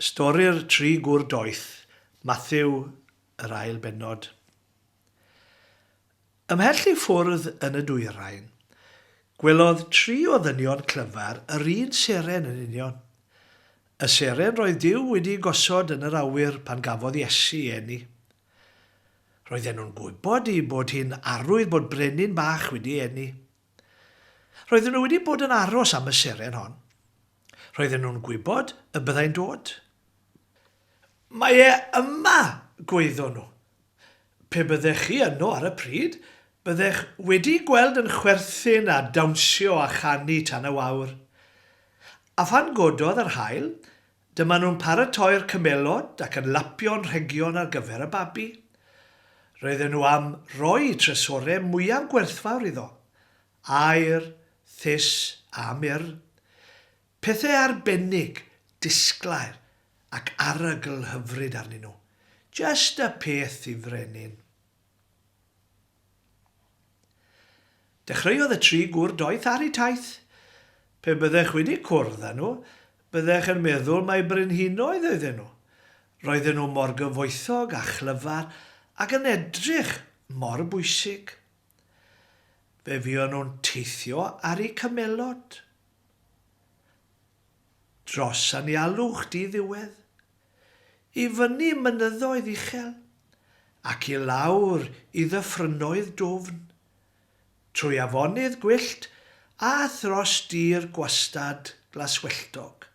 Stori'r Tri Gŵr Doeth, Mathew, yr ail bennod. Ymhell i ffwrdd yn y dwyrain, gwelodd tri o ddynion clyfar yr un seren yn union. Y seren roedd Duw wedi'i gosod yn yr awyr pan gafodd Iesu eni. Roedden nhw'n gwybod eu bod hi'n arwydd bod brenin bach wedi eni. Roedden nhw wedi bod yn aros am y seren hon. Roedden nhw'n gwybod y byddai'n dod. Mae e yma! gwaeddon nhw. Pe byddech chi yno ar y pryd, byddech wedi'i gweld yn chwerthin a dawnsio a chanu tan y wawr. A phan gododd yr haul, dyma nhw'n paratoi'r cymelod ac yn lapio'n rhegion ar gyfer y babi. Roedden nhw am roi trysorau mwyaf gwerthfawr iddo. Aer, Thus a Mur, pethe arbennig, disglair ac arogl hyfryd arnyn nhw. Just y peth i frenin. Dechreuodd y tri gwr doeth ar eu taith. Pe byddech wedi cwrdd â nhw, byddech yn meddwl mai brenhinoedd oedden nhw. Roedden nhw mor gyfoethog a chlyfar ac yn edrych mor bwysig. Fe fuon nhw'n teithio ar eu cymelod. Dros anialwch di-ddiwedd, i fyny mynyddoedd uchel, ac i lawr i ddyffrynnoedd dwfn, trwy afonydd gwyllt a thros dir gwastad glaswelltog.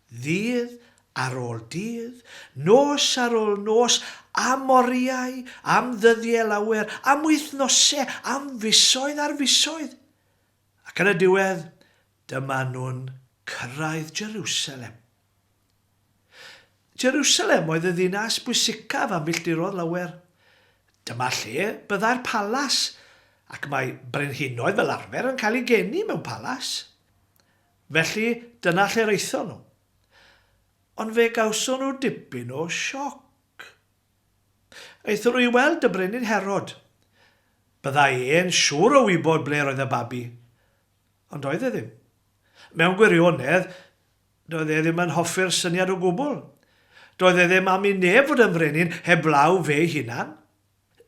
Ddydd ar ôl dydd, nos ar ôl nos, am oriau, am ddyddiau lawer, am wythnosau, am fisoedd ar fisoedd. Ac yn y diwedd, dyma nhw'n cyrraedd Jerusalem. Jerusalem oedd y ddinas bwysicaf a milltirodd lawer. Dyma lle byddai'r palas, ac mae brenhinoedd fel arfer yn cael eu geni mewn palas. Felly, dyna lle'r aethon nhw. Ond fe gawson nhw dipyn o sioc. Aethon nhw i weld y Brenin Herod. Bydda i e'n siŵr o wybod ble roedd y babi. Ond doedd e ddim. Mewn gwirionedd, doedd e ddim yn hoffi'r syniad o gwbl. Doedd e ddim am i neb fod yn frenin heblaw fe'i hunan.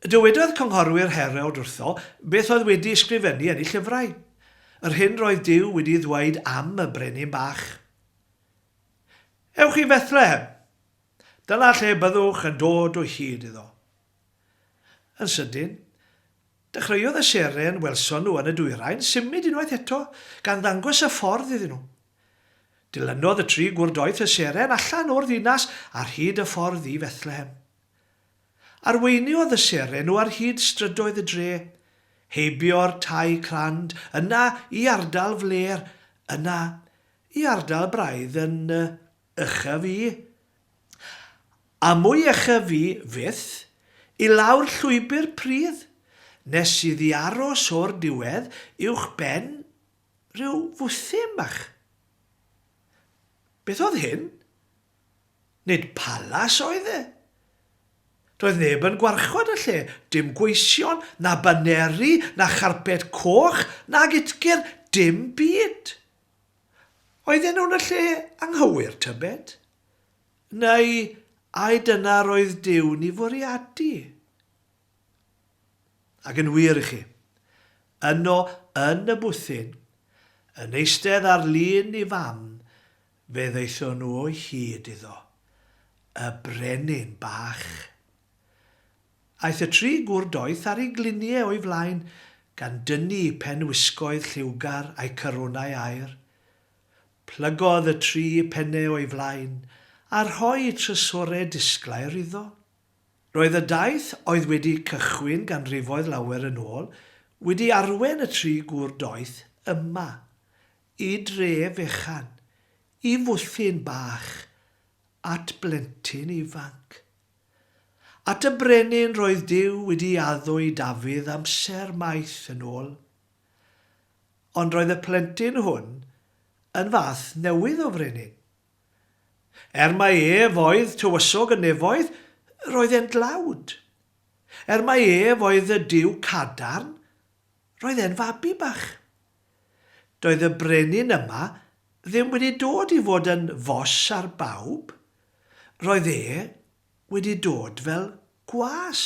Dywedodd Cynghorwyr Herewd wrtho beth oedd wedi ysgrifennu yn ei llyfrau, yr hyn roedd Duw wedi ddweud am y brenin bach. Ewch i Fethlehem! Dyna lle byddwch yn dod o hyd iddo. Yn sydyn, dechreuodd y seren welson nhw yn y dwyrain symud unwaith eto, gan ddangos y ffordd iddyn nhw. Dilynodd y tri gwr doeth y seren allan o'r ddinas ar hyd y ffordd i Fethlehem. Arweiniodd y seren o ar hyd strydoedd y dre, heibio'r tai crand, yna i ardal flêr, yna i ardal braidd yn ucha fi, a mwy ucha fi fyth, i lawr llwybr pridd, nes iddi aros o'r diwedd uwch ben rhyw fwthyn bach. Beth oedd hyn? Nid palas oedd e. Doedd neb yn gwarchod y lle, dim gweision, na baneri, na charped coch, nag utgr, dim byd. Oedden nhw'n y lle anghywir, tybed? Neu ai dyna roedd Duw'n ei fwriadu? Ac yn wir i chi, yno yn y bwthyn, yn eistedd ar lun ei fam, Fe ddaethon nhw o hyd iddo, y brenin bach. Aeth y tri gwr doeth ar eu gliniau o'i flaen, gan dynnu pen wisgoedd lliwgar a'u carwnau aur. Plygodd y tri pennau o'i flaen, a rhoi trysorau disglair iddo. Roedd y daith oedd wedi cychwyn ganrifoedd lawer yn ôl wedi arwen y tri gwr doeth yma. Y dre fechan, y fwthyn bach, at blentyn ifanc. At y brenin roedd Duw wedi addo i Dafydd amser maith yn ôl. Ond roedd y plentyn hwn yn fath newydd o frenin. Er mai ef oedd tywysog y nefoedd, roedd e'n dlawd. Er mai ef oedd y Duw cadarn, roedd e'n fabi bach. Doedd y brenin yma ddim wedi dod i fod yn fos ar bawb, roedd e wedi dod fel gwas.